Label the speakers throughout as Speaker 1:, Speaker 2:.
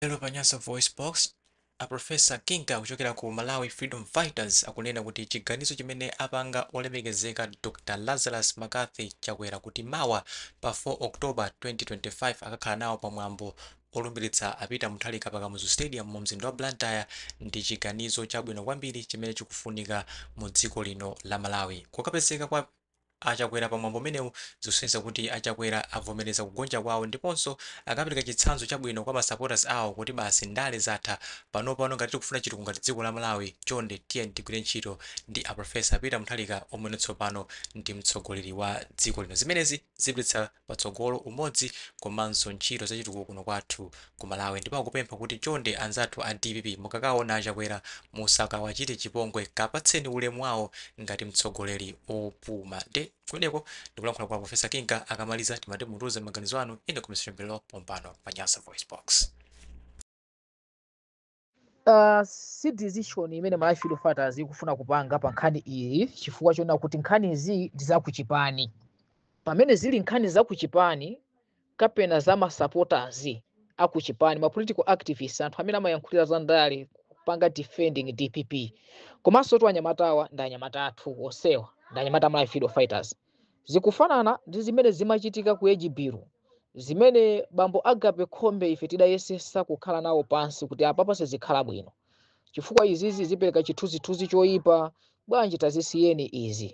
Speaker 1: Lero pa Nyasa VoiceBox, a Professor Kinga kuchokera ku Malawi Freedom Fighters akunena kuti chiganizo chimene apanga olemekezeka Dr Lazarus McCarthy Chakwera kuti mawa pa 4 October 2025 akakhala nawo pa mwambo olumbilitsa a Peter Mutharika pa Kamuzu Stadium mu mzinda wa Blantyre ndi chiganizo chabwino kwambiri chimene chikufunika mu dziko lino la Malawi. Kukapezeka kwa. a Chakwera pa mwambo umenewu zikusonyeza kuti a Chakwera avomereza kugonja kwawo ndiponso akapereka chitsanzo chabwino kwa ma supporters awo kuti basi ndale zatha panopano ngati tikufuna chitukuko ngati dziko la Malawi chonde tiyeni tigwire ntchito ndi a Professor Peter Mutharika omwe tsopano ndi mtsogoleri wa dziko lino zimenezi zipititsa patsogolo umodzi komanso ntchito zachitukuko kuno kwathu Ku Malawi ndipo akupempha kuti chonde anzathu a dpp mukakaona a Chakwera musakawachite chipongwe kapatseni ulemu wawo ngati mtsogoleri opuma nde kumeneko ndikulankhula kwa Professor Kinga akamaliza timati mutiuze maganizo anu in the comment section below pompano pa Nyasa VoiceBox.
Speaker 2: Uh, si decision imene Malawi Freedom Fighters ikufuna kupanga pa nkhani iyi chifukwa choona kuti nkhani izi ndi zakuchipani pamene zili nkhani zakuchipani kapena za masupporters akuchipani ma political activists anthu amene amayankhulira za ndale kupanga defending dpp komanso tu anyamatawa ndi anyamata athu onsewa ndi anyamata a Malawi Freedom Fighters Zikufanana ndi zimene zimachitika ku Ejibiru, zimene bambo Agape Khombe ife tidayesesa kukhala nawo pansi kuti apapa sizikhala bwino chifukwa izizi zipereka chithunzithunzi choyipa, bwanji tazisiyeni izi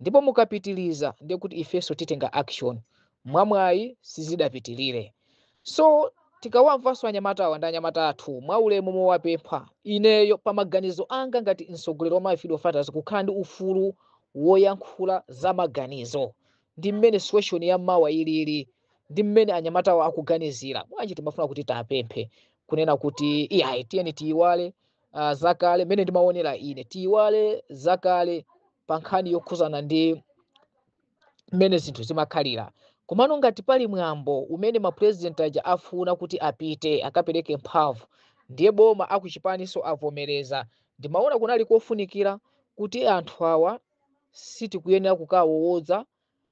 Speaker 2: ndipo mukapitiliza ndiye kuti ifenso titenga action. mwamwayi sizidapitilire so tikawamvanso anyamatawa ndi anyamata athu mwaulemu mowapempha ineyo pa maganizo anga ngati mtsogoleri wa Malawi Freedom Fighters kukhala ndi ufulu woyankhula za maganizo ndi mmene situation ya mawa ilili ndi mmene anyamatawa akuganizira bwanji timafuna kuti tiwapemphe kunena kuti iyayi tiyeni tiyiwale uh, zakale mmene ndimaonera ine tiyiwale zakale pa nkhani yokhuzana ndi mmene zinthu zimakhalira komano ngati pali mwambo umene mapresident aja afuna kuti apite akapereke mphamvu ndiye boma akuchipaniso avomereza ndimaona kunali kofunikira kuti anthu awa sitikuyenera kukawawoza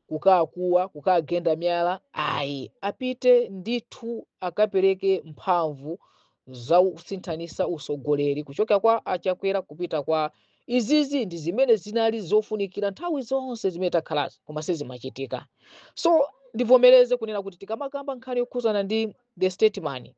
Speaker 2: kukakuwa kukagenda miyala ayi apite ndithu akapereke mphamvu zausinthanisa usogoleri kuchoka kwa a Chakwera kupita kwa izizi ndi zimene zinali zofunikira nthawi zonse zimene takhalazi koma sizimachitika so ndivomereze kunena kuti tikamakamba nkhani yokhuzana ndi the statesman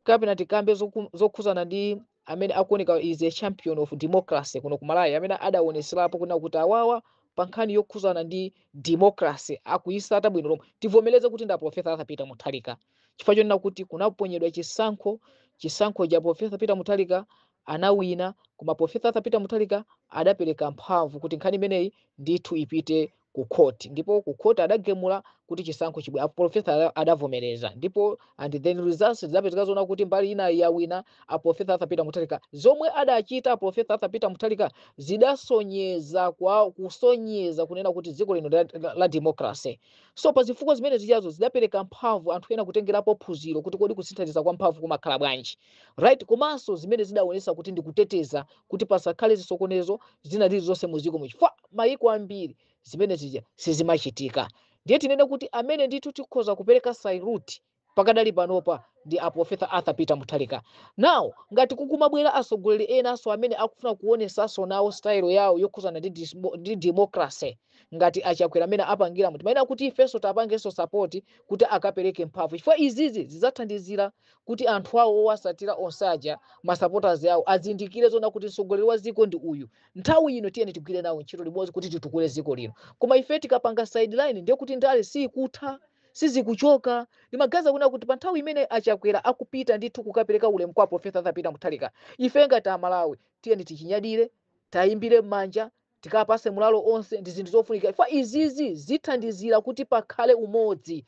Speaker 2: kapena tikambe zoku- zokhuzana ndi amene akuoneka is a champion of democracy kuno ku Malawi amene adaoneserapo kunena kuti awawa pa nkhani yokhuzana ndi democracy akuyisata bwino lomwe tivomereze kuti ndi a Professor Arthur Peter Mutharika chifukwa chonena kuti kunaponyedwa chisankho chisankho cha a profesa peter mutharika anawina koma profesa arthur peter mutharika adapereka mphamvu kuti nkhani imeneyi ndithu ipite ku khoti ndipo ku khoti adagemula kuti chisankho chibwe apo profesa ada- adavomereza ndipo and then results zidapezeka zoona kuti mbali ina yawina a profesa arthur peter mutharika zomwe adachita a profesa arthur peter mutharika zidasonyeza kwa kusonyeza kunena kuti dziko lino la, la, la democracy so pa zifukwa zimene zijazo zidapereka mphamvu anthu ena kutengerapo phunziro kuti kodi kusinthanitsana kwa mphamvu kumakhala bwanji right komanso zimene zidaonesa kuti ndikuteteza kuti pasakhale zisokonezo zina zilizonse muziko muno chifukwa mayiko ambiri zimene zija sizimachitika ndiye tinene kuti amene ndithu tikhoza kupereka salute pakadali panopa ndi a Professor Arthur Peter Mutharika. Now ngati kukumabwera atsogoleri enanso amene akufuna kuonesanso nawo style yawo yokhuzana ndi, dismo- ndi democracy ngati achakwera amene apangiramu timayenera kuti ifenso tapangenso support kuti akapereke mphamvu chifukwa izizi zidzathandizira kuti anthu awo owasatira onse aja masupporters awo azindikire zoona kuti mtsogoleri wa dziko ndi uyu nthawi ino tiyeni tigwire nawo ntchito limodzi kuti titukule dziko lino koma ife tikapanga sideline ndiye kuti ndale siyikutha sizikuchoka ndimaganiza kunena kuti pa nthawi imene achakwera akupita ndithu kukapereka ulemu kwa a profesa arthur peter mutharika ife ngati amalawi tiyeni tichinyadire tiwayimbire m'manja tikawapase morale onse ndi zinthu zofunika chifukwa izizi zithandizira kuti pakhale umodzi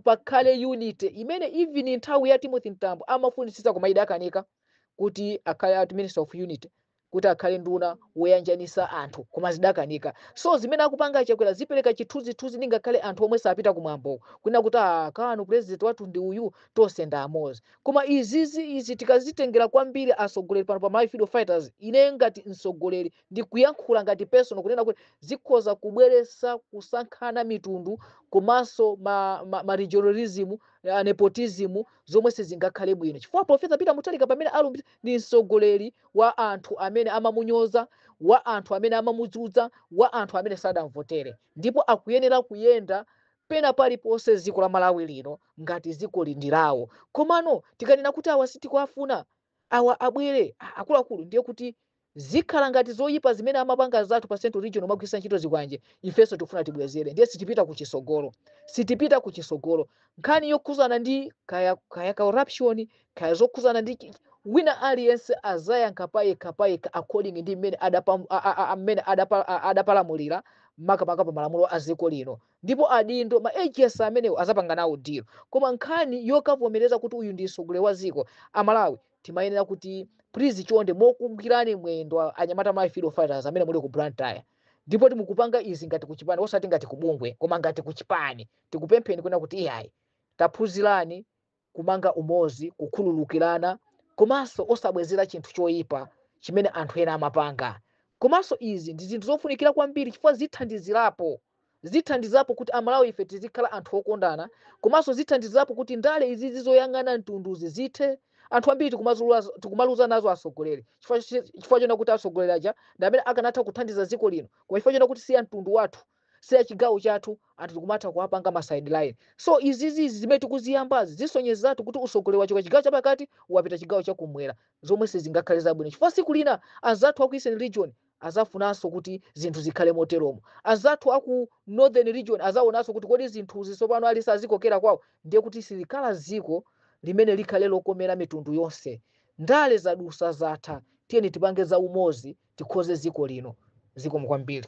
Speaker 2: pakhale unity imene even nthawi ya timothy mtambo amafunitsitsa koma idakanika kuti akhale ati minister of unity kuti akhale nduna woyanjanisa anthu koma zidakanika so zimene akupanga achakwera zipereka chithunzithunzi ngakhale anthu omwe sapita kumwambowo kunena kuti aa kano president wathu ndi uyu tonse ndi amozi koma izizi izi tikazitengera kwambiri asogoleri pano pa malawi freedom fighters ine ngati msogoleri ndikuyankhula ngati personal kunena kuti zikhoza kubweresa kusankhana mitundu komanso ma, ma, ma regionalism uh, nepotism zomwe sizingakhale bwino chifukwa profesa peter mutharika pamene alumbira ndi mtsogoleri wa anthu amene amamunyoza wa anthu amene amamudzudza wa anthu amene sadamvotere ndipo akuyenera kuyenda pena paliponse dziko la malawi lino ngati dziko ili ndi lawo komano tikanena kuti awa sitikuwafuna awa abwere a- akuluakulu ndiye kuti Zikhala ngati zoyipa zimene amapanga anzathu pa central region kumagwiritsa ntchito zikwanje ifenso tikufuna tibwezere ndiye sitipita kuchisogolo sitipita kuchisogolo nkhani yokhuzana ndi kaya kaya corruption kaya zokhuzana ndi wina aliyense azayankha payekhapayekha according ndi mmene adapa mmene adapa adapalamulira makamaka pa malamulo a dziko lino ndipo adindo ma agency amenewo azapanga nawo deal koma nkhani yokavomereza kuti uyu ndi mtsogoleri wa dziko amalawi timayenera kuti please chonde mokugwirani mwendo a- anyamata ma freedom fighters amene muli ku blantyre ndipo ti mukupanga izi ngati kuchipani osati ngati kubungwe koma ngati kuchipani tikupempheni kunena kuti iyayi taphunzirani kumanga umozi kukhululukirana komanso osabwezera chinthu choyipa chimene anthu ena amapanga komanso izi ndi zinthu zofunikira kwambiri chifukwa zithandizirapo Zithandizapo kuti amalawi ife tizikhala anthu okondana komanso zithandizapo kuti ndale izizi zoyang'ana mtunduzi zithe. Anthu ambiri tikumaluza nazo atsogoleri chifukwa chonena kuti atsogoleri aja ndi amene akanatha kuthandiza dziko lino koma chifukwa chonena kuti si amtundu wathu si achigawo chathu anthu tikumatha kuwapanga ma sideline. So izizi zimene tikuziyambazi zisonyezatu kuti utsogoleri wachoka chigawo chapakati wapita chigawo chakumwera zomwe sizingakhale zabwino chifukwa tsiku lina anzathu aku eastern region azafunanso kuti zinthu zikhale moteromo anzathu aku northern region azaonananso kuti kodi zinthuzi tsopano alisa azikokera kwawo ndiye kuti silikhala dziko limene likhale lokomera mitundu yonse ndale zadusa zatha tiyeni tipange za umozi tikhoze dziko lino zikomo kwambiri